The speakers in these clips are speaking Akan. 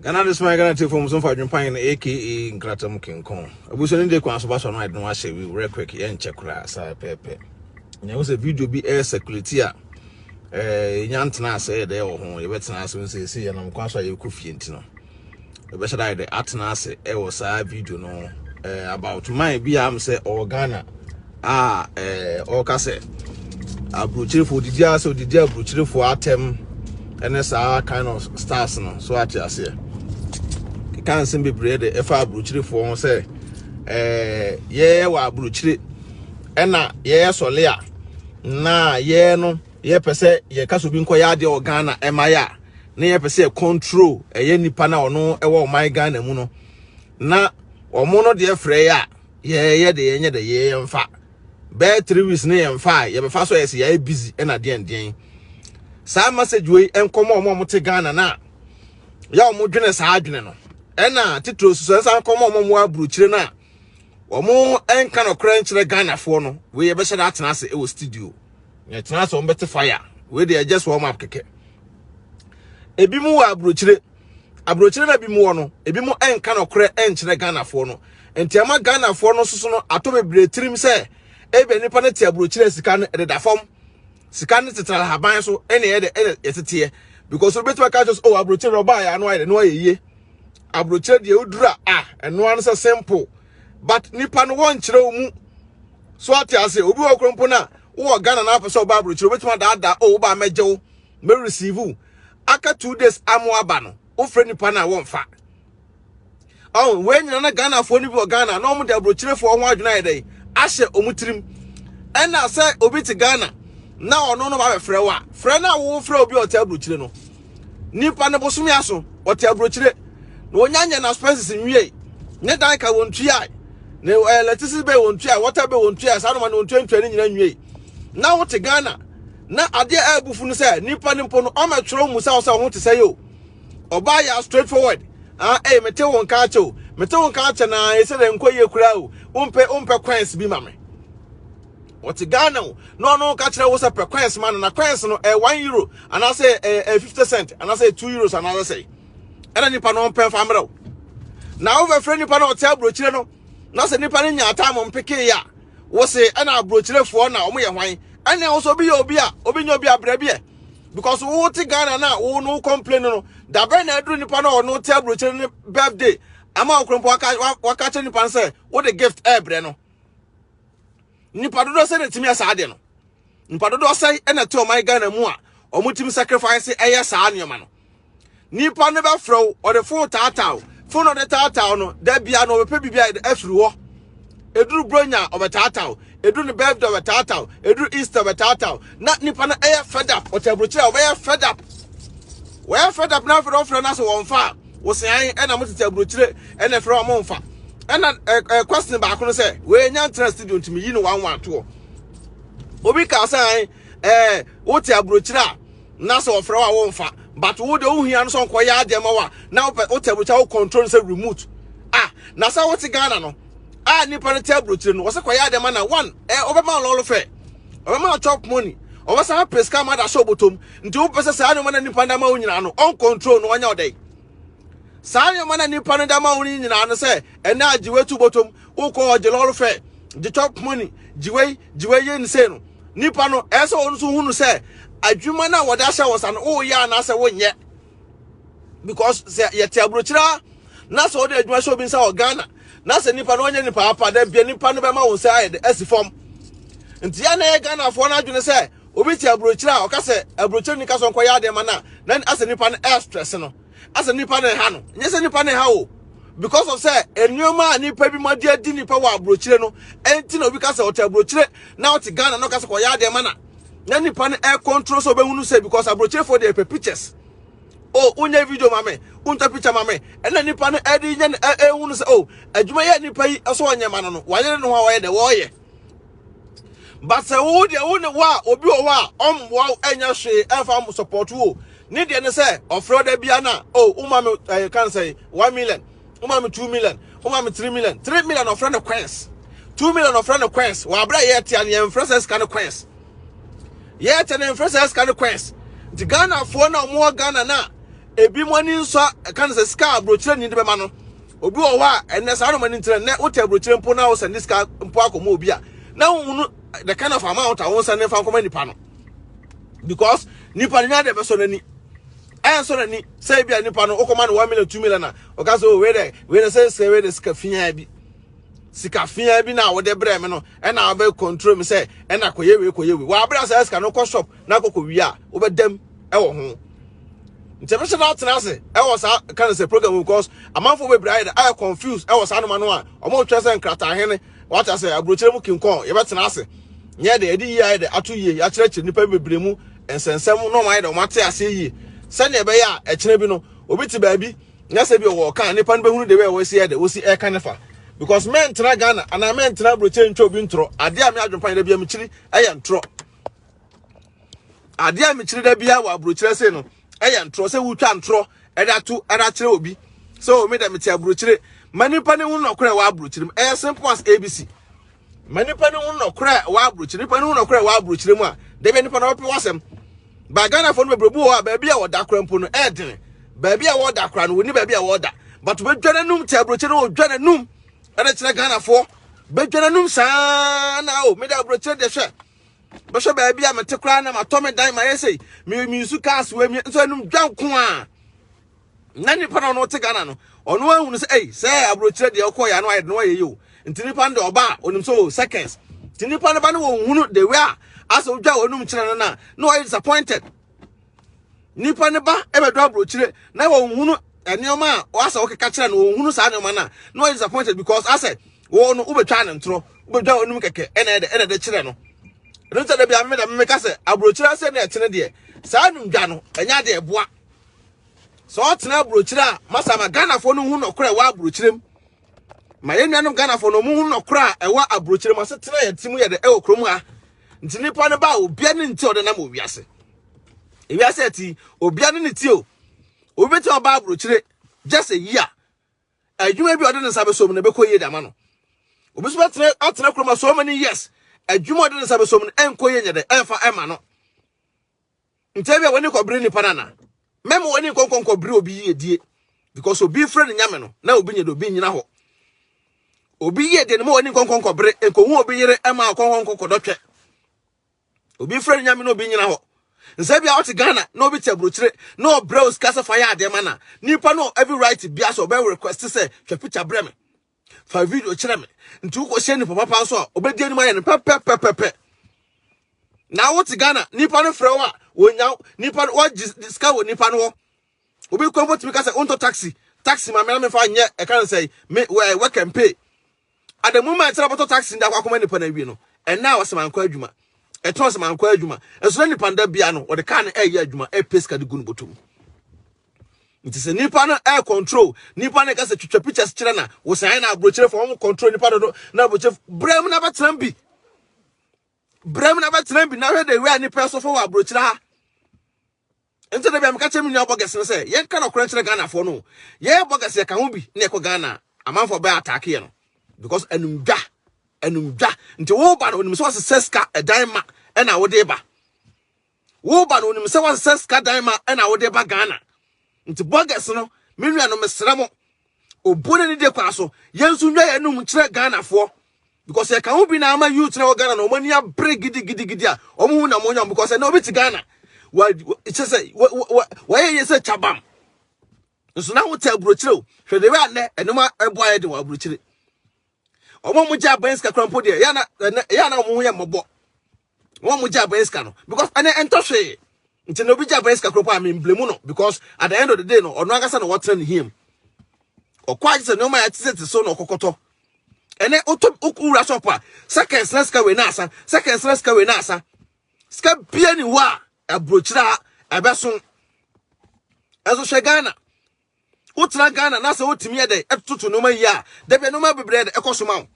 Ghana de soma Ghana tiefo mso mfa adwempan no aka nkratam kenkɔn. Abusua no de kwan so ba so no ade no ahyɛ wi werɛ quick yɛ nkyɛ koraa saa pɛɛpɛ. Na ɛho sɛ video bi ɛyɛ circulate a ɛɛ nya ntena ase yɛ dɛ wɔ ho yɛbɛtena ase nso esi yɛ nam kwan so a yɛkɔ fie nti no ɛbɛhyɛ dɛ ayɛ dɛ atena ase ɛwɔ saa video no ɛɛ about man bi a am sɛ ɔwɔ Ghana a ɛɛ ɔka sɛ aburokyirefo odidi ase odidi aburokyirefo atɛm ɛne saa kind of stars no so ate aseɛ keka nsɛm bebree de ɛfa aburokyirefo ho sɛ ɛɛ yɛyɛ wɔ aburokyire ɛna yɛyɛ sɔle a na yɛyɛ no yɛpɛ sɛ yɛka so bi nkɔyɛ adeɛ wɔ ghana ɛma yɛ a na yɛpɛ sɛ yɛ control ɛyɛ nipa na ɔno ɛwɔ ɔman ghana mu no na wɔn no deɛ frɛ yɛ a yɛyɛ de yɛnyɛ de yɛyɛ mfa bɛɛ three weeks ne yɛn mfa a yɛbɛfa so yɛsɛ yɛayɛ busy ɛna deɛn deɛn saa message wei nkɔmɔ ɔmo ɔmo te Ghana na yɛ ɔmo dwene saa adwene no ɛna titiri soso ɛnsa nkɔmɔ ɔmo ɔmo aburukyire na ɔmo ɛnka no korɛ nkyerɛ Ghanafoɔ no wei yɛbɛhyɛ de atena ase ɛwɔ studio yɛtena ase ɔmo bɛte fire wei deɛ just warm up kɛkɛ ebi mu wɔ aburukyire Aburokyire no a ebinom wɔ no, ebinom nka nokorɛ nkyerɛ Ghanafoɔ no. Nti ɛma Ghanafoɔ no nso so no ato bebree tirim sɛ ebia nipa no te aburokyire a sika no ɛdeda fam. Sika no tetena ahaban so ɛne ɛde ɛna yɛteteɛ. Because wobɛtumi aka kyerɛ sɛ oh aburokyire no ɔbaa yɛ ano ayɛ dɛ no ayɛ yie. Aburokyire deɛ wodura a ɛnoa no sɛ simple. But nipa no wɔnkyerɛ wo mu. So ate ase obi wɔ kurompo no a wowɔ Ghana na apɛ sɛ ɔba aburokyire wobɛtumi adaadaa oh wobaa mɛgye wo mɛreceive wo aka two days amo aba no wofrɛ nipa no a wɔmfa ɔn wei nyina na ghanafoɔ no bi wɔ ghana na wɔde aburokyerefoɔ ho adwene ayɛ dɛn ahyɛ wɔn tirim ɛna sɛ obi te ghana na ɔno no wabɛfrɛ wo a frɛ no a wofrɛ obi a ɔte aburokyire no nipa no bosome aso ɔte aburokyire na wɔnya nyɛ no aspenses nwie ne dan ka wɔn tuae ne ɛlɛtisi bɛ wɔn tuae wɔta bɛ wɔn tuae saa noma ne wɔn tuantua ne nyina nwie na wote ghana Na adeɛ a ɛbu fu no sɛ nipa no mpo no ɔma ɛtwerɛ mu sɛ ɔsɛ ɔho te sɛ yo ɔbaa yɛ straight forward ah ɛyɛ eh, mete wo nka akyɛ o mete wo nka akyɛ na ɛsɛ dɛ nkɔ yie koraa o wompɛ wompɛ coins bi ma me ɔte ghana o na ɔno ka kyerɛ wo sɛ pɛ coins ma no na coins no ɛyɛ one euro anaasɛ ɛyɛ ɛyɛ fifty cent anaasɛ two euros anaasɛ sɛ ɛna nipa no ɔmpɛ nfa mmerɛw na wofɛfrɛ nipa no ɔte aburokyire no na sɛ nipa no nya atam mpeke yɛ a wo se ɛna aburokyirefoɔ na wɔn yɛ hwan ɛna wo sɛ obi yɛ obi a obi nyɛ obi abrɛ bi ɛ because wo te Ghana na wo no complain no dabɛn na aduru nipa na ɔno te aburokyire ne birthday ama ɔkorompo waka kyerɛ nipa no sɛ wode gift ɛbrɛ no nipa dodoɔ sɛ na ɛtumi ɛsaa deɛ no Nnipa dodoɔ sɛn na ɛte ɔman Ghana mu a wɔtumi sacrifice ɛyɛ saa nneɛma no? Nipa no bɛfrɛ wo, ɔde fon taataa wo, fon na ɔde taataa no, da bia na ɔbɛpɛ biribi a afiri hɔ. Eduru bronya ɔbɛtaataa wo, eduru ne birthday ɔbɛtaataa wo, eduru Easter ɔbɛtaataa wo. Na nipa no ɛyɛ fed up, ɔte aburokyerɛ a ɔbɛyɛ fed up. Wɔyɛ fed up na afei na ɔfrɛ no asɛ wɔn fa a, wɔsɛn ɛna mo tete aburokyerɛ ɛna ɛfrɛ wɔn mo nfa. Ɛna ɛɛ question baako no sɛ, wɔyɛ nya ntina studio ntumi yi no wɔn wɔn atoɔ. obi ka sɛ ɛɛ eh, wote aburokyire a na sɛ ɔfrɛ wo a womfa but wo de wohia no sɛ ɔnkɔyɛ adeɛ ma wo a na wopɛ wote aburokyire wo control no sɛ remote ah na sɛ wote ghana no a nipa no te aburokyire no wɔsɛ kɔyɛ adeɛ ma na one ɛɛ eh, ɔbɛma lɔɔlo fɛ ɔbɛma chop money ɔbɛsan apɛ sika ma da hyɛ ɔbɔtɔm nti wopɛ sɛ saa nneɛma na nipa da ma wo nyinaa no ɔncontrol no ɔnyɛ ɔdɛ saa nneɛma na nipa no da ma wo nyinaa no sɛ ɛnɛ a gyiwe tu bɔtɔm wokɔ hɔ gye lɔre fɛ gye chop money gyiwe gyiwe yɛ ne sei no nipa no ɛyɛ sɛ wɔn nso hunu sɛ adwuma no a wɔde ahyɛ wɔn nsa no woyɛ anaasɛ wonyɛ because sɛ yɛte aburokyerɛ a na sɛ wɔde adwuma hyɛ obi nsa wɔ ghana na sɛ nipa no ɔnyɛ nipa apa dɛ bia nipa no bɛma wɔn nsa ayɛ de asi fam nti yɛ na yɛ ghanafoɔ no adwene sɛ obi te aburokyerɛ a ɔka sɛ aburokyerɛ nika so nkɔyɛ adeɛ ma no a na asɛ nipa no ɛstrɛse no asɛ nipa na ɛha no nyɛ sɛ nipa na ɛha o because of sɛ nneɛma a nipa bi ma de adi nipa wɔ aburokyire no ɛnti na obi ka sɛ ɔte aburokyire na ɔte ghana na ɔka sɛ kɔyɛ adeɛ ma na na nipa no ɛkɔntro sɛ ɔbɛhunu sɛ because aburokyerefoɔ deɛ ɛpɛ pictures o wonyɛ video ma me wontwa picture ma me ɛna nipa no ɛde nyɛ ɛhunu sɛ o adwuma yɛ nipa yi ɛsɛ ɔnyɛ ma no no wayere no ho a wɔyɛ dɛ wɔyɛ but sɛ wo deɛ wo ne wo a obi wɔ hɔ a ɔmmoa wo ɛnyɛ hwee ɛmfa support wo ne deɛ ne sɛ ɔfrɛ ɔda bia na o woma me ɛyɛ kan sɛ one million woma me two million woma me three million three million ɔfrɛ no coins two million ɔfrɛ no coins wɔ abira yɛ tia ne yɛn frɛ sɛ sika no coins yɛ tia ne frɛ sɛ sika no coins nti ghanafoɔ na wɔn wɔ ghana na ebi mo ani nsɔ ɛka ne sɛ sika aburokyerɛ ni de bɛma no. Obi wɔ hɔ a ɛnɛ saa nneɛma no nti na nnɛ wote aburokyire mpo na wosɛnde sika mpo akɔma obi a na wohu no the kind of amount a wonsɛnde mfa nkɔma nipa no because nipa no nya de bɛsɔ n'ani ɛnsɔ n'ani sɛ ebi a nipa no wokɔma no one million two million a ɔka sɛ o oh, wei dɛ wei dɛ sɛ sɛ wei dɛ sika fiaa bi sika fiaa bi na wɔde brɛ me no ɛna wɔbɛ control me sɛ ɛna kɔyɛ wei kɔyɛ wei wɔabrɛ sɛ sika no kɔ shop na kɔkɔ wia a wobɛdam ɛwɔ ho nti ɛbɛhyɛ no atena ase ɛwɔ saa kan sɛ program mu because amanfoɔ bebree ayɛ dɛ ayɛ confuse ɛwɔ saa noma no a wɔn retwɛn sɛ nkrataa hene wate ase aburokyerɛ mu kinkɔn yɛbɛtena ase nyɛ dɛ ɛde yie ayɛ dɛ ato yie yɛakyerɛkyerɛ nnipa bebree mu nsɛnsɛm na wɔn ayɛ dɛ wɔn ate aseɛ yie sɛnea ɛbɛyɛ a ɛkyerɛ bi no obi te baabi na sɛ bi ɔwɔ ɔka nipa no bɛhunu de bɛyɛ wɔsi yɛ dɛ wɔsi ɛka ne fa because mɛntena ghana anaa mɛntena aburokyerɛ ntwa obi ntorɔ adeɛ a me adwempa yɛ dɛ bi a mekyiri ɛyɛ ntorɔ adeɛ a mekyerɛ da biara wɔ aburokyerɛ se no ɛyɛ ntorɔ sɛ wotwa ntorɔ ɛde ato ɛde akyerɛ obi sɛ o oh, me dɛ mete aburokyerɛ ma nipa ne ho nɔkorɛ wɔ aburokyerɛ mu ɛyɛ simple as abc ma nipa ne ho nɔkorɛ wɔ aburokyerɛ nipa ne ho nɔkorɛ wɔ aburokyerɛ mu a dɛbɛ nipa na wɔpɛ wɔsɛm ba ghanafoɔ no bebree bi wɔ hɔ a baabi a wɔda kora mpo no ɛɛdene baabi a wɔda kora no wɔni baabi a wɔda but wɔbɛdwa n'anum te aburokyerɛ no wɔdwa n'anum ɛde kyerɛ ghanafoɔ bɛdwa n'anum saa na o oh, me dɛ aburokyerɛ deɛ hwɛ bɛhwɛ baabi a mete koraa na matɔ me dan mayɛ sei me me nsu cars wɔ mi nso anum dwa nko a na nipa na ɔno te Ghana no ɔno ahunu sɛ ei sɛ aburokyerɛ deɛ ɔkɔ yɛ ano ayɛ no ayɛ yɛ o nti nipa no deɛ ɔba a onim sɛ o seconds nti nipa no ba no wɔn hunu de wɛ a asɛ odwa wɔn anum kyerɛ no na na ɔyɛ disappointed nipa no ba ɛbɛdɔ aburokyerɛ na wɔn hunu nneɛma a ɔasɛ ɔkeka kyerɛ no wɔn hunu saa nneɛma na na ɔyɛ disappointed because asɛ wɔn no wobɛtwa ne ntorɔ wobɛtwa wɔn nom kɛkɛ ɛna ɛdɛ ɛna ɛdɛ kyerɛ no ɛno sɛ dabi ameme dɛm meka sɛ aburokyire asɛm na ɛtene deɛ saa num dwa no ɛnyɛ adeɛ ɛboa sɛ ɔtena aburokyire a masa ma ghanafoɔ no hu nɔkorɛ ɛwɔ aburokyire mu ma yɛn nuanom ghanafoɔ no ɔmo hu nɔkorɛ a ɛwɔ aburokyire mu asetena yɛn ti mu yɛ dɛ ɛwɔ kurom ha nti nipa no ba a obia ne nti ɔde nam wɔ wiase ewiase ɛti obia ne ne ti o obi bɛtumi ɔba aburokyire just a year adwuma bi a ɔde ne nsa bɛsɔ mu na ɛbɛkɔ yie de ama no obi nso bɛtena atena kurom so many years adwuma a ɔde ne nsa bɛsɔ mu no ɛnkɔ yie nyɛ dɛ ɛmfa ɛma no nti bi a wɔne kɔbere nipa no ana mɛma wɔne nkɔnkɔnkɔbere obi yie die because obi frɛ no nyame no na obi nyɛ dɛ obi nyina hɔ obi yie deɛ no ma wɔne nkɔnkɔnkɔbere nkɔhu obi yere ɛma ɔkɔnkɔnkɔkɔdɔtwɛ obi mfrɛ no nyame na obi nyina hɔ nsɛ bia ɔte Ghana na obi te aburokyire na ɔbrɛ o sika sɛ fa yɛ adeɛ ma na nipa no every right bia sɛ ɔbɛ request sɛ twa picture brɛ me fa video kyerɛ me nti wokɔhyɛ nipa papa nso a ɔbɛdi anim ayɛ no pɛpɛpɛpɛpɛ na wote Ghana nipa no frɛ wo a wɔnya nipa no wɔgye sika wɔ nipa no hɔ obi kura mpo tumi ka sɛ wontɔ taxi taxi ma mena mefa nyɛ ɛka no sɛ me wɛ work and pay at the moment sɛ ɔbɛtɔ taxi nda akɔma nipa na awie no ɛna wɔsɛ mankɔ adwuma ɛtɔn sɛ mankɔ adwuma ɛso na nipa nda bia no wɔde kaa no ɛyɛ adwuma ɛpɛ sika de gu no bɔtɔ mu nti sɛ nipa no ɛyɛ control nipa no ka sɛ twitwa pictures kyerɛ na wɔsɛn na aburokyerɛ fɔ wɔn control nipa dodo na aburokyerɛ brɛ mu na bɛtena bi brɛ mu na bɛtena bi na hwɛ de wɛ nipa so fɔ wɔ aburokyerɛ ha Nti da bia meka kyerɛ me nua bɔgɛs no sɛ yɛnka nɔkorɛ nkyerɛ Ghanafoɔ no o. Yɛyɛ bɔgɛs yɛka ho bi na yɛkɔ Ghana a, amanfoɔ bɛ ataake yɛ no because anum dwa, anum dwa. Nti wo ba no onim sɛ wasesɛ sika ɛdan ma ɛna wode ba. Wo ba no onim sɛ wasesɛ sika dan ma ɛna wode ba Ghana. Nti bɔgɛs no me nua no mesrɛ mo Obuo n'ani de kɔ aso. Yɛn nso nnwa yɛn nom nkyerɛ Ghanafoɔ. Because yɛka ho bi na ama youth na wɔ Ghana na wɔn ani abere gidigidigidi a wɔn ho nam onyam because ɛnna obi te Ghana wa kyɛ sɛ wa wa wɔyɛ yɛ sɛ kyabam nso na wote aburokyire o hwɛ de bɛ anɛ ɛnoma ɛbɔ ayɛ de wɔ aburokyire wɔn a wɔgye abɛn sika kora mpo deɛ yɛ na yɛ na wɔn ho yɛ mmɔbɔ. wɔn mo gye abɛn sika no because ɛnɛ ɛntɔ hwee nti na obi gye abɛn sika koropɔ a mi mblemu no because at the end of the day no ɔno ankasa na wɔtena ne hia mu ɔkɔ agye sɛ nneɛma yɛ tete so na ɔkɔkɔtɔ ɛnɛ wotɔ wura shop a seconds na sika wei na asa seconds na sika wei na asa sika bia ni hɔ a aburokyire a ɛbɛso ɛso hwɛ ghana wotena ghana na sɛ wotumi yɛ dɛ ɛtoto nneɛma yi a dabi nneɛma bebree dɛ ɛkɔ so ma wo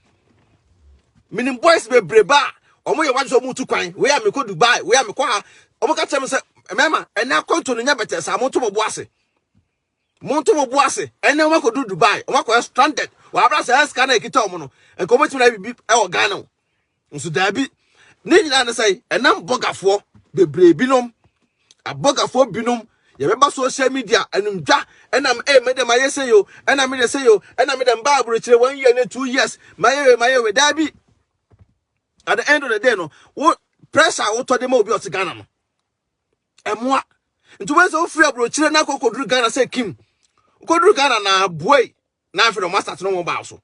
menim boys bebree ba a wɔn yɛ wadze sɛ wɔn tu kwan wei a mekɔ dubai wei a mekɔ ha wɔn ka kyerɛ me sɛ mmarima ɛnɛ akwanto no nyɛ bɛtɛ saa mo nto mo bo ase mo nto mo bo ase ɛnɛ wɔn akɔ du dubai wɔn akɔ stranded wɔn abira sɛ ɛsika na ekita wɔn no nka wɔn ti na bibi ɛwɔ ghana o. Nso daabi, ne nyinaa ne sɛ ɛnam bɔgafoɔ bebree binom, abɔgafoɔ binom yɛbɛba social media ɛnum dwa ɛna ɛyɛ mede ma yɛ sɛ yo ɛna mede sɛ yo ɛna mede mba aburokyire one year ne two years ma yɛ we ma yɛ we daabi at the end of the day no wo pressure a wotɔ de ma obi ɔte Ghana no ɛmoa nti wɔn sɛ wofiri aburokyire na akɔ kɔduru Ghana sɛ kim kɔduru Ghana na aboa yi na afei na wɔn asate no wɔn baa so.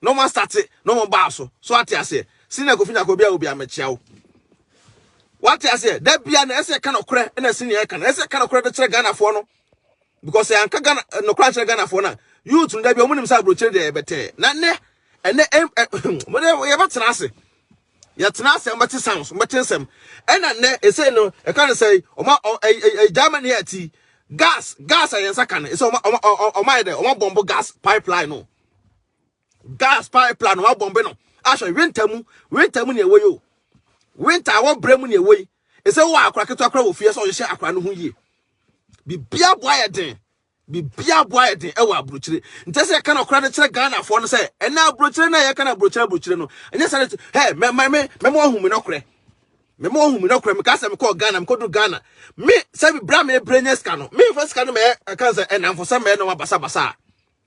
na ɔmo astate na ɔmo baa so so wate aseɛ senior kofi nyako bia obia mekyea wo wate aseɛ da bia na ɛsɛ ɛka nɔkorɛ na senior ɛka na ɛsɛ ɛka nɔkorɛ de kyerɛ Ghana foɔ no because ɛyɛ anka Ghana nɔkorɛ ankyerɛ Ghana foɔ na youth no da bia ɔmo nim sɛ abrokyire deɛ ɛbɛtɛɛ na nɛ ɛnɛ ɛm ɛm mo de yɛbɛtena ase yɛtena ase ɔmo bɛte sounds ɔmo bɛte nsɛm ɛna nɛ ɛsɛ no ɛka no sɛ ɔmo ɛɛ Germany ɛti gas gas a yɛn nsa ka no ɛsɛ ɔmo ɔmo ɔmo ayɛ dɛ ɔmo abɔmbo gas pipeline no. gas pipeline wa bɔmbe no ahwɛ winter mu winter mu ne ɛwɔ yi o winter a wɔbrɛ mu ne ɛwɔ yi ɛsɛ wɔ akora ketewa kora wɔ fie sɛ ɔhyehyɛ akora no ho yie bibia boa yɛ den bibia boa yɛ den ɛwɔ aburokyire nti sɛ yɛka no akora no kyerɛ ghanafoɔ no sɛ ɛna aburokyire no a yɛka no aburokyire aburokyire no ɛnyɛ sɛ no hɛ mɛma me mɛma ɔhu me nɔkorɛ mɛma ɔhu me nɔkorɛ meka sɛ mekɔɔ ghana mekɔdu ghana me sɛ bibira mebrɛ nyɛ sika no memfa sika no mɛyɛ ɛka sɛ ɛnamfo sɛ mɛyɛ no basabasa a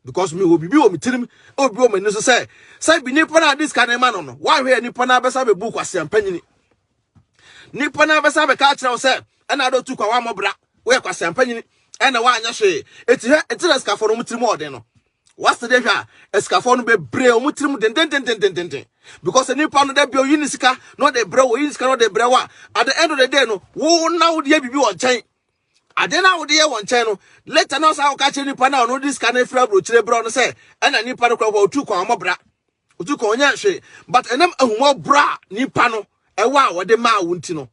Because mewɔ biribi wɔ me tirim a obi wɔ m'ani so sɛ sɛ bi nipa no a de sika no ma no no wahwɛ yɛ nipa no abɛsa bɛbu kwasea mpanyini nipa no abɛsa bɛka akyerɛ wo sɛ ɛna ade otu kwa wammɔ bra woyɛ kwasea mpanyini ɛna woanyɛ hwee ɛti hwɛ ɛti na sikafo no wɔn tirim ɔden no wasa de hwɛ a sikafo no bebree wɔn tirim dendendendendenden because nipa no da bi oyi ne sika na ɔde brɛ wo oyi ne sika na ɔde brɛ wo a at the end of the day no wo na wo deɛ biribi wɔ nkyɛn Ade no a wode yɛ wɔ nkyɛn no, later na ɔsan kɔka kyerɛ nipa no a ɔno de sika no afiri aburokyire brɛ ɔno sɛ ɛna nipa no kora hɔ otu kwan ɔmɔ bra otu kwan ɔnyɛ nhwe but ɛnam ahumɔborɔ a nipa no ɛwɔ a wɔde maa wo nti no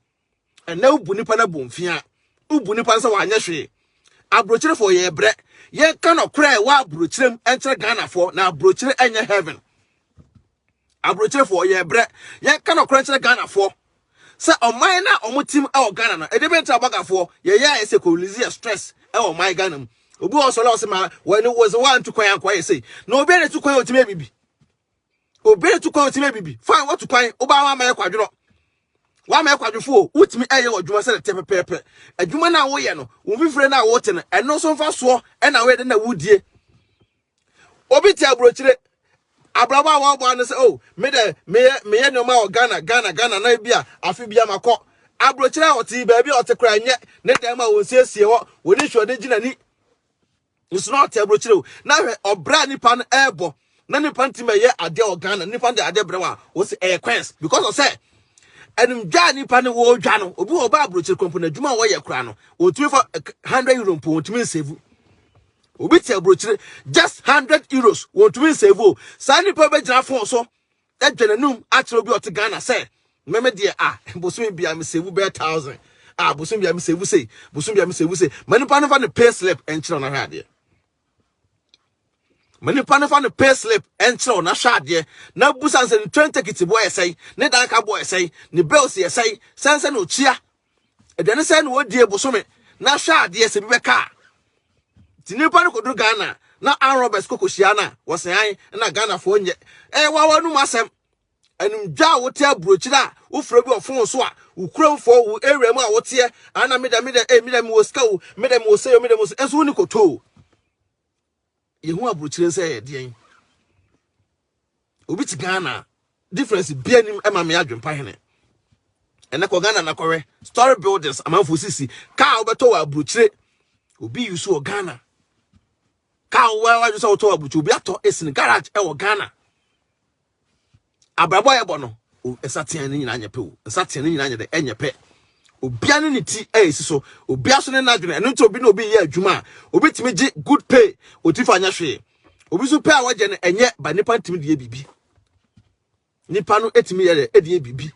ɛnɛ wobu nipa no abu mfea wobu nipa no sɛ wanyɛ hwee aburokyirefoɔ yɛ brɛ yɛka nɔkorɛ ɛwɔ aburokyirem ɛnkyerɛ ghanafoɔ na aburokyire ɛnyɛ heaven Aburokyerefoɔ, yɛ brɛ. Yɛn ka nɔkorɛ nkyerɛ Ghanafoɔ. Sɛ ɔman no a wɔn tim ɛwɔ Ghana no, ɛdeɛ bɛn nti na bagafoɔ, yɛ yɛ ayɛ sɛ kɔ release yɛ stress ɛwɔ ɔman Ghana mu. Obi wɔ hɔ sɔre a ɔse ma wɔ ne wɔ se wɔ antu kwan ankɔ ayɛ sei. Na obi a ne tu kwan ɔtumi abibi. Obi a ne tu kwan ɔtumi abibi. Fine, wɔ tu kwan, wobaa wɔ ama yɛ kwadwono. Wɔ ama yɛ kwadwofoɔ, wotumi ɛyɛ wɔ adwuma sɛ ne tɛ pɛpɛpɛ. Adwuma na wɔ yɛ no, wo mfifire na wɔ te no, ɛno nso mfa soɔ ɛna wɔ yɛ dɛ na wɔ die. Obi te aburokyire abrabɔ a wɔabɔ ano sɛ o oh, me dɛ meyɛ meyɛ nneɛma wɔ Ghana Ghana Ghana na ebi a afe bi ama kɔ aburokyire a ɔte baabi a ɔte koraa nyɛ ne dan mu a wɔnsiesie hɔ wɔde nhwɛde gyina ni nso na ɔte aburokyire o na hwɛ ɔbrɛ a nipa no ɛrebɔ na nipa no ti ma yɛ adeɛ wɔ Ghana nipa no de adeɛ brɛ wɔ a wɔsi ɛyɛ kwɛns because ɔsɛ ɛnumdwa a nipa no wɔredwa no obi wɔ ɔba aburokyire kɔmpo na adwuma a wɔyɛ koraa no wɔtumi fa eh, hundred euro mpo wɔtumi nsevu obi te aburokyire just hundred euros wɔntumi nsave o saa nipa bɛgyina phone so adwa n'anum akyerɛ obi ɔte ghana sɛ mɛmɛ deɛ a ah, bosomi bia me save bɛyɛ thousand a ah, bosomi bia me save sei bosomi bia me save sei ma nipa no fa ne pay slip nkyerɛ ɔno ahwɛ adeɛ ma nipa no fa ne pay slip nkyerɛ ɔno ahwɛ adeɛ na busa nsɛ ne train ticket boɔ yɛ sɛn ne danka boɔ yɛ sɛn ne bills yɛ sɛn sɛn sɛ na okyia aduane sɛ na wɔdie bosome na hwɛ adeɛ sɛ bi bɛka a nti nnipa no kɔduru ghana na arm robbers kɔkɔhyia no a wɔsean na ghanafoɔ nyɛ ɛyɛ wawa no mu asɛm animdwa a wote aburokyiri a wofrɛ bi ɔfon so a wokura mfoɔ wo area mu a woteɛ ana meda meda eh meda mewɔ sika o meda mewɔ sɛ o meda mewɔ sɛ ɛnso woni kɔtoo yɛhu aburokyire nsɛ yɛ deɛn obi te ghana difference bia nim ɛma me adwempa hene ɛnɛ kɔ ghana na kɔwɛ story buildings amanfo sisi kaa wobɛtɔ wɔ aburokyire obi yi so wɔ ghana kaa wɔ wadwo sɛ wotɔ wɔ aburokyire obi atɔ ɛsini garage ɛwɔ ghana abrabɔ a yɛbɔ no nsateaa no nyinaa nyɛ pɛ o nsateaa no nyinaa nyɛ dɛ ɛnyɛ pɛ obia ne ne ti ɛyɛsi so obia so ne n'adwene ɛno nti obi na obi yɛ adwuma a obi tumi gye good pay oti fa nyɛ hwee obi so pɛ a wɔgye no ɛnyɛ ba nipa ntumi deɛ biribi nipa no ɛtumi yɛ dɛ ɛdeɛ biribi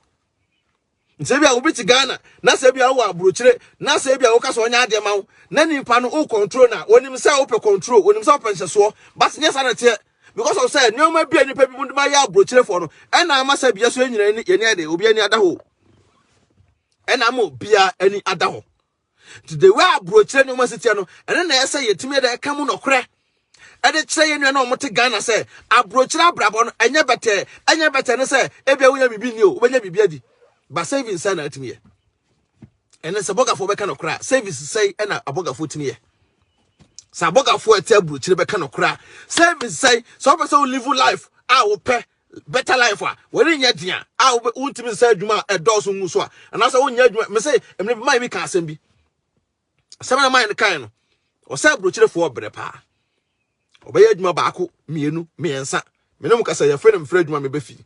sɛ ebi a obi te ghana na sɛ ebi a wowɔ aburokyire na sɛ ebi a woka sɛ ɔnyɛ adeɛ ma wo na nipa no wo control na onim sɛ wopɛ control onim sɛ wopɛ nhyɛsoɔ but nyɛ saa na teɛ because of sɛ nneɛma bi a nipa bi mu de ma yɛ aburokyirefoɔ no ɛna ama sɛ bia so yɛnyina yɛni yɛni ɛde obi ani ada hɔ ɛna ama obia ani ada hɔ Nti the way aburokyerɛ nneɛma esi teɛ no, ɛno na ɛyɛ sɛ yɛtumi de ɛka mu nɔkorɛ ɛde kyerɛ yɛn nua na wɔte Ghana sɛ aburokyerɛ abrabɔ no ɛnyɛ bɛtɛɛ, ɛnyɛ bɛtɛɛ ne sɛ ebia wonya biribi ni o, wobɛnya biribi adi, ba savings sɛ na atumi yɛ. Ɛne sɛ bɔgafoɔ bɛka nɔkorɛ a, savings sɛ ɛna abɔgafoɔ tumi yɛ. Sɛ abɔgafoɔ ɛte aburokyerɛ bɛka nɔkorɛ a, savings sɛ sɛ wɔpɛ sɛ wo live life a wopɛ Better life a wɔrenyɛ den a a wontumi nsa adwuma a ɛdɔɔso ngu so a anaasɛ wonyɛ adwuma mese mmerɛ bi man bi ka asɛm bi asɛm na man no kae no ɔsɛ aburokyerefoɔ berɛ paa ɔbɛyɛ adwuma baako mmienu mmiɛnsa mene mu kasa yɛfrɛ no mfrɛ adwuma mebɛfi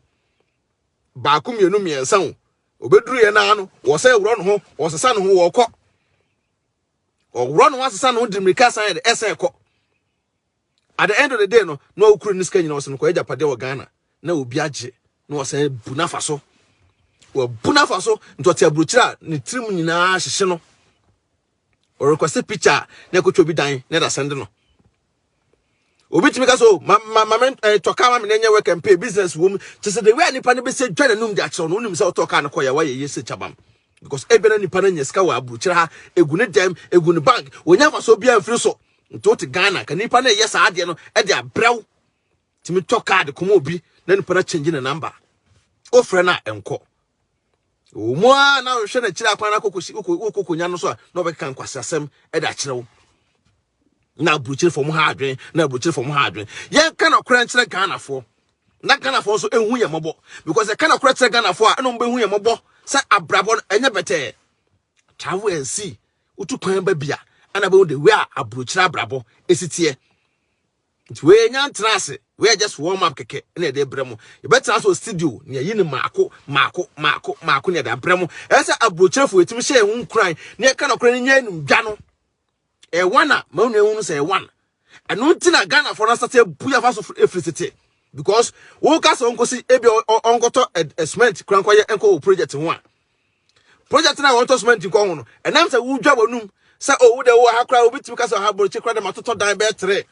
baako mmienu mmiɛnsa o ɔbɛduru yɛ naa no wɔsɛ worɔ no ho wɔsesa no ho wɔkɔ ɔworɔ no ho asesa no ho de mmirika san yɛ de ɛsɛ ɛkɔ At the end of the day no, na ɔkura ne sika nyinaa ɔsɛ no kɔ agyapadeɛ wɔ Ghana na obi agye na ɔsɛ bu n'afa so. Wɔbu n'afa so nti ɔte aburokyire a ne tirim nyinaa hyehye no. Ɔrekɔsɛ picture na ɛkɔtwa obi dan na ɛda sɛnde no. Obi tumi ka so ma ma ma me eh, tɔ kaa ma me na ɛnyɛ work and pay business wɔ mu. Kyɛ sɛ the way a nipa no bɛsɛ dwa n'anum de akyerɛw no wonim sɛ wotɔ kaa no kɔ yɛ wayɛ yɛ sɛ kyabam because ebia na nipa no anya sika wɔ aburokyire ha egu ne dɛm egu ne bank wɔnya mfasoɔ biara mfiri so Nti wote Ghana ka nipa na ɛyɛ saa adeɛ no ɛde abrɛw tumi tɔ card kɔma obi na nipa na change ne number wofrɛ no a ɛnkɔ ɛwɔ mu a na wohwɛ n'akyiri akwan no akɔkɔsi wokɔkɔnya no so a na ɔbɛkeka nkwase asɛm ɛde akyerɛ wo na aburukyiri fam ha adwen na aburukyiri fam ha adwen yɛnka na ɔkora nkyerɛ Ghanafoɔ na Ghanafoɔ nso ehu yɛn mmɔbɔ because ɛka na ɔkora kyerɛ Ghanafoɔ a ɛna wɔn bɛhu yɛn mmɔbɔ sɛ abrabɔ no ɛnyɛ bɛtɛɛ travel and see Wotu kwan ba bi a, ɛna bɛhu the way a aburokyiri abrabɔ esi teɛ. Nti wei nya ntena ase, wei yɛ just warm up kɛkɛ na yɛde brɛ mo. Yɛbɛtena ase wɔ studio na yɛyi no maako maako maako maako na yɛde abrɛ mo. Ɛyɛ sɛ aburokyirefo yɛtumi hyɛ yɛn ho nkuran na yɛka nɔkorɛ no nyɛ animdwa no. Ɛyɛ one a ma wo nua hu no sɛ ɛyɛ one. ɛno nti na Ghana fo no asate abu yafa so efiri tete because wo ka sɛ ɔnkɔsi ebi ɔnkɔtɔ cement kura nkɔyɛ nkɔ wɔ project ho a project na wɔtɔ cement nkɔ ho no ɛnam sɛ wodwa wɔnum sɛ owu de wo ha kura obi tumi ka sɛ ɔha borɔkye kura de ma totɔ dan bɛɛ tere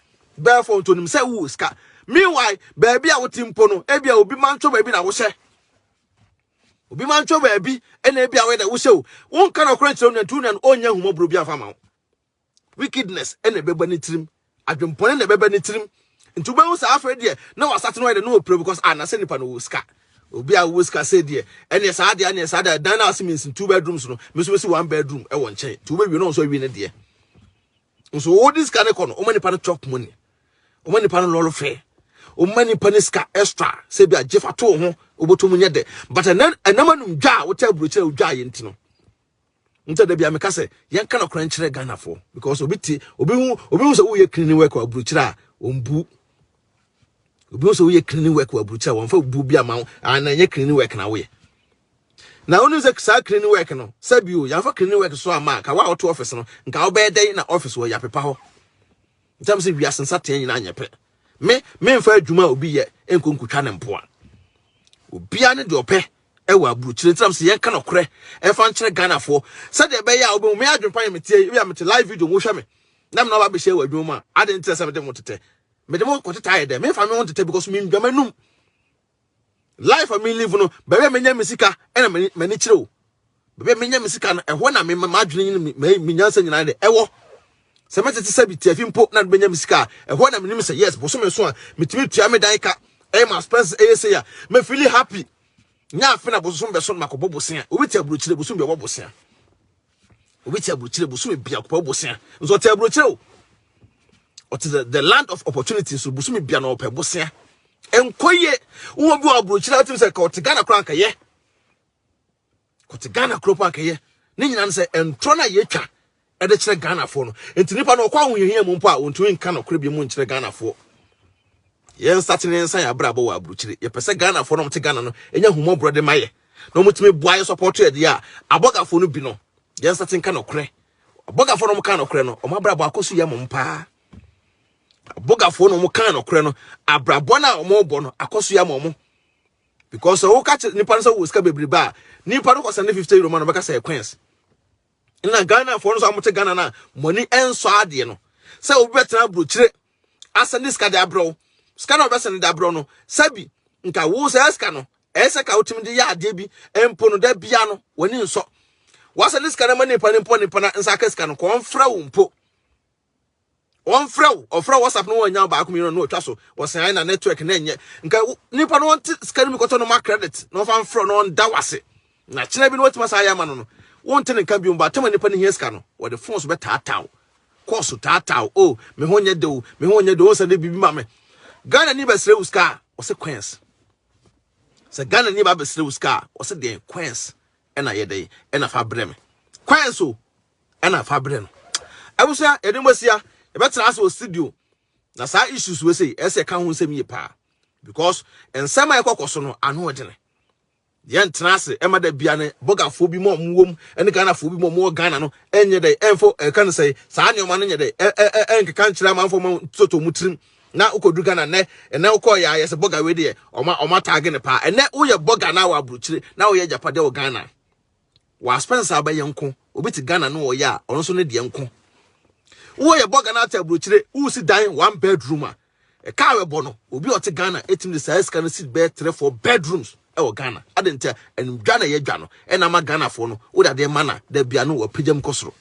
bɛɛ fɔ ntonim sɛ wo sika meanwhile baabi a wote mpo no ebi a obi mantwo baabi na wohyɛ obi mantwo baabi ɛna ebi a wɔyɛ dɛ wohyɛ o wonka na ɔkora nkyerɛ wo nua nti wo nua no ɔnyɛ ahumɔborɔ bi afa ma wo wickedness na ɛbɛba ne tirim adwempɔne na ɛbɛba ne tirim nti wobɛhu sɛ afei deɛ na wasate no ayɛ dɛ na ɔpira because ah na sɛ nipa no wɔ sika obi a wɔ sika sɛ deɛ ɛneɛ saa deɛ ɛneɛ saa deɛ dan no a ɔse mensi two bedrooms no me nso mɛsi one bedroom ɛwɔ nkyɛn nti wobɛwie no nso awie no deɛ nso wode sika no kɔ no woma nipa no chop money woma nipa no lɔlo fɛ woma nipa no sika extra sɛ bi a gyefa to ho wobɛtɔ mu nyɛ dɛ but ɛnam anum dwa a wotɛ aburokyerɛ wodwa yɛ nti no Nti da bia meka sɛ yɛnka nɔkorɛ nkyerɛ Ghanafoɔ because obi te obi hu obi hu sɛ woyɛ cleaning work wɔ aburokyerɛ a ɔmbu obi hu sɛ woyɛ cleaning work wɔ aburokyerɛ a wɔmfa bu bi ama wo a na ɛnyɛ cleaning work na woyɛ na wonim sɛ saa cleaning work no sɛ bio yɛmfa cleaning work so ama a ka wo a woto office no nka wobɛyɛ dɛn na office wɔ yɛapepa hɔ ntam sɛ wiase nsateɛ nyinaa nyɛ pɛ me memfa adwuma a obi yɛ nkɔ nkotwa ne mpoa obiara ne deɛ ɔpɛ ɛwɔ aburukyire ntina sɛ yɛnka nɔkorɛ ɛfa nkyerɛ Ghanafoɔ sɛdeɛ ɛbɛyɛ a wobɛhu me adwene pa yɛ metie ebi a mete live video wohwɛ me na mena aba bɛhyɛ wɔ adwuma mu a ade nti sɛ mede mo tetɛ mede mo kɔtetɛ ayɛ dɛ memfa me ho ntetɛ because mendwa m'anum life a me live no baabi a menya me sika ɛna m'ani kyerɛ o Baabi a menya me sika no, ɛhɔ na m'adwene ne me nyansa nyinaa de ɛwɔ. Sɛ mɛtete sɛ bi tiafi mpo na de bɛnya me sika a, ɛhɔ na menim sɛ yes, bosome so a metumi tua me dan ka, ɛyɛ ma expenses ɛyɛ sei a, me feel happy. Nya afe na bosom bɛso no makɔbɔ bosea. Obi te aburokyire bosom bi ɔbɔ bosea. Obi te aburokyire bosom bi akɔbɔ bosea. Nso ɔte aburokyire o. Ɔte the, the land of opportunity so bosom bi na ɔpɛ bosea. Enkoye, wo bi aburokyire atim sɛ ka ɔte Ghana koraa nkɛyɛ. kɔte ghana kuro pa akɛyɛ ne nyinaa no sɛ ntorɔ no a yɛtwa ɛde kyerɛ ghanafoɔ no nti nipa no ɔkɔ ahohiahia mu mpo a wɔntumi nka nokorɛ bi mu nkyerɛ ghanafoɔ yɛnsate ne nsa yɛ abrabɔ wɔ aburukyire yɛpɛ sɛ ghanafoɔ no ɔmte ghana no ɛnya humɔborɔ de ma yɛ na ɔmutumi boa yɛ sɔpɔto ɛdeɛ a abɔgafoɔ no bi no yɛnsate nka nokorɛ abɔgafoɔ no ɔmka nokorɛ no ɔmo abrabɔ akɔ so yɛ mom paa abɔgafoɔ no ɔmka nokorɛ no abrabɔ no a ɔmɔbɔ no akɔ so yɛ mom because sɛ woka kyerɛ nipa no sɛ wɔ sika bebrebe a nipa no kɔsɛn ne fifty euro ma no bɛka sɛ ɛkwɛns na ghana foɔ no nso amote ghana no a mɔni ɛnsɔ adeɛ no sɛ obi bɛtena aburokyire asɛn ne sika de abrɛ wo sika na ɔbɛsɛn de abrɛ wo no sɛbi nka wo sɛ sika no ɛsɛ ka wotumi de yɛ adeɛ bi mpo no da bia no w'ani nsɔ wasɛn ne sika no ma nipa no mpo nipa no nsa aka sika no kɔmfrɛ wo mpo wɔmfrɛ wo ɔfrɛ whatsapp no wɔanya baako mmienu no ɔtwa so wɔsɛn na network na ɛnyɛ nka nipa no wɔnte sika no mu kɔtɔ no ma credit na wɔfa mfrɛ no ɔnda wase na kyena bi no wɔtumi saa yɛ ama no no wonte ne nka biom baatama nipa no hia sika no wɔde fon so bɛtaataa wo kɔɔso taataa wo o me ho nyɛ de o me ho nyɛ de o sɛ de biribi ma me ghana ni bɛsrɛ wo sika a ɔsɛ coins sɛ ghana ni ba bɛsrɛ wo sika a ɔsɛ deɛn coins ɛna yɛ dɛn ɛna fa brɛ me coins o ɛna fa brɛ no abusua yɛde mo asia yɛbɛtena ase wɔ studio na saa issues wɔ sei ɛsɛ ka ho nsɛm yie paa because nsɛm a ɛkɔkɔ so no ano ɔdene yɛntena ase ɛma da bia ne bɔgafoɔ bi ma ɔmo wɔm ɛne ghanafoɔ bi ma ɔmo wɔ ghana no ɛnyɛ dɛ ɛmfo ɛka no sɛ saa nneɛma no nyɛ dɛ ɛnkeka nkyerɛ amanfoɔ ma toto mu tirim na wokɔduru ghana nnɛ ɛnɛ wokɔɔ yɛ ayɛ sɛ bɔga wei deɛ ɔma ɔma taage ne paa ɛnɛ woyɛ bɔga na wɔ aburokyire na woyɛ agyapadeɛ wɔ ghana Wa spend saa bɛyɛ nko. Obi te Ghana no ɔyɛ a, ɔno nso ne deɛ nko. Wo yɛ bɔ Ghana ata aburokyire, wo si dan one bedroom a, ɛka a wɛbɔ no, obi a ɔte Ghana ɛtumi de saa sika no si bɛyɛ three four bedrooms ɛwɔ Ghana. Ade nti a, ɛnum dwa na ɛyɛ dwa no, ɛna ama Ghanafoɔ no, wo dadeɛ ma na, da bia no wɔ pagya mu kɔ soro.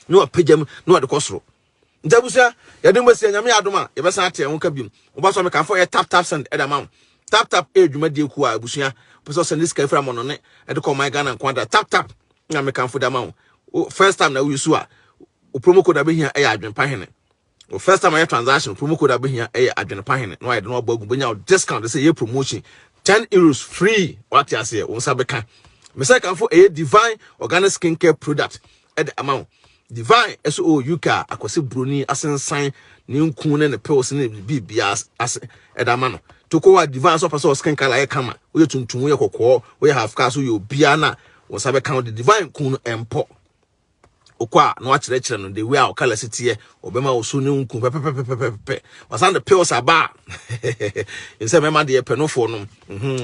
na wapagya mu na wɔde kɔ soro nti abusua yɛde mu bɛsi nyame adom a yɛbɛsan ate ɛho ka biom woba so meka mfa yɛ tap tap send ɛda ma wo tap tap ɛyɛ dwumadie kuo a abusua pɛ sɛ ɔsɛnde sika firi amɔno ne ɛde kɔ ɔman ghana nko ada tap tap na mekamfo da ma wo first time na woyusu a wo promo code a bɛhia ɛyɛ adwempa hene Wo first time ayɛ transaction promo code abɛhia ɛyɛ adwene pa hene na wayɛ de na wabɔ agu bɛnya discount de sɛ yɛ promotion 10 euros free wate aseɛ wo nsa bɛka mesɛ kanfo ɛyɛ divine organic skin care product ɛde ama wo divine ɛso ɔwɔ oh, uk a akwasi buroni asensan ne nku ne ne pills ne biribiara ase ɛde ama no toko wa divine so pɛ skin color yɛ kama woyɛ tuntum woyɛ kɔkɔɔ woyɛ half car so yɛ obiara na wo nsa bɛka wo de divine kun no ɛmpɔ wokɔ a na wakyerɛkyerɛ no the way a ɔkala si teɛ ɔbɛma wo so ne nku pɛpɛpɛpɛpɛpɛ wasan de pills aba a nsɛ mɛma deɛ pɛ nofoɔ nom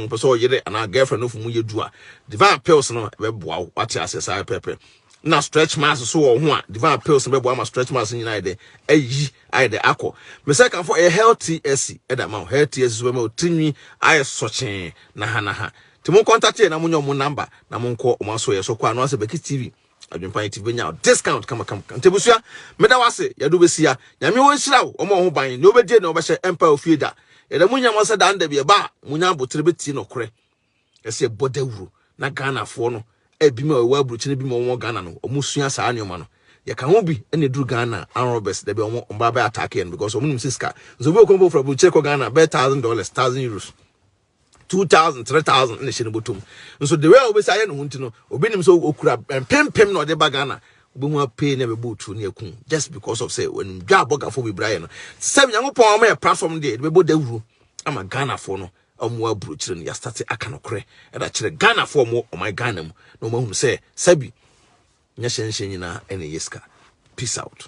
pɛ sɛ ɔyere anaa girlfriend nofo mu yɛ du a divine pills no ɛbɛboa wo wate aseɛ saa pɛpɛ na stretch marks so wɔ ho a divine pills no bɛboa ma stretch marks nyinaa yɛ dɛ ayi ayɛ dɛ akɔ mesɛ kanfo ɛyɛ healthy asi ɛda ma wo healthy asi so bɛma wo tirinwi ayɛ sɔkyee na ha na ha Nti mo contact yɛ na mo nya ɔmo number na mo nkɔ ɔmo aso yɛ so kɔ ano asɛ Becky TV adwempan TV bɛnya discount kama kama kama nti abusua meda wase yɛdo bɛsi ya nyame wɔ nhyira wo ɔmo ɔho ban ne obɛdie ne ɔbɛhyɛ ɛmpa ofie da yɛda mo nyama sɛ dan da bi ɛba a mo nya abotere bɛtie nɔkorɛ ɛsɛ yɛbɔ dawuro na Ghana foɔ no ebi ma ɛwɔ aburukyene bi ma ɔmo Ghana no ɔmo sua saa nneɛma no yɛka ho bi ɛna eduru Ghana arm robbers da bi ɔmo ɔmo ba bɛ attack yɛn because ɔmo nim sɛ sika nso obi okɔn bɔ fura aburukyere kɔ Ghana bɛyɛ thousand dollars thousand euros two thousand three thousand na ɛhyɛ ne bɔtɔm nso de wei a wobɛsi ayɛ ne ho nti no obi nim sɛ okura mpempem na ɔde ba ghana wobɛhu apee na ɛbɛbɔ otuo ne akum just because of sɛ wɔnim dwa abɔgafo bebree ayɛ no sɛ nyankopɔn ama yɛ platform deɛ de bɛbɔ dawuro ama ghanafoɔ no ɔmo aburokyire no yɛastate aka nokorɛ ɛda kyerɛ ghanafoɔ ɔmo ɔman ghana mu na ɔmo ahunu sɛ sɛbi nyɛ hyɛnhyɛn nyinaa ɛna ɛyɛ sika peace out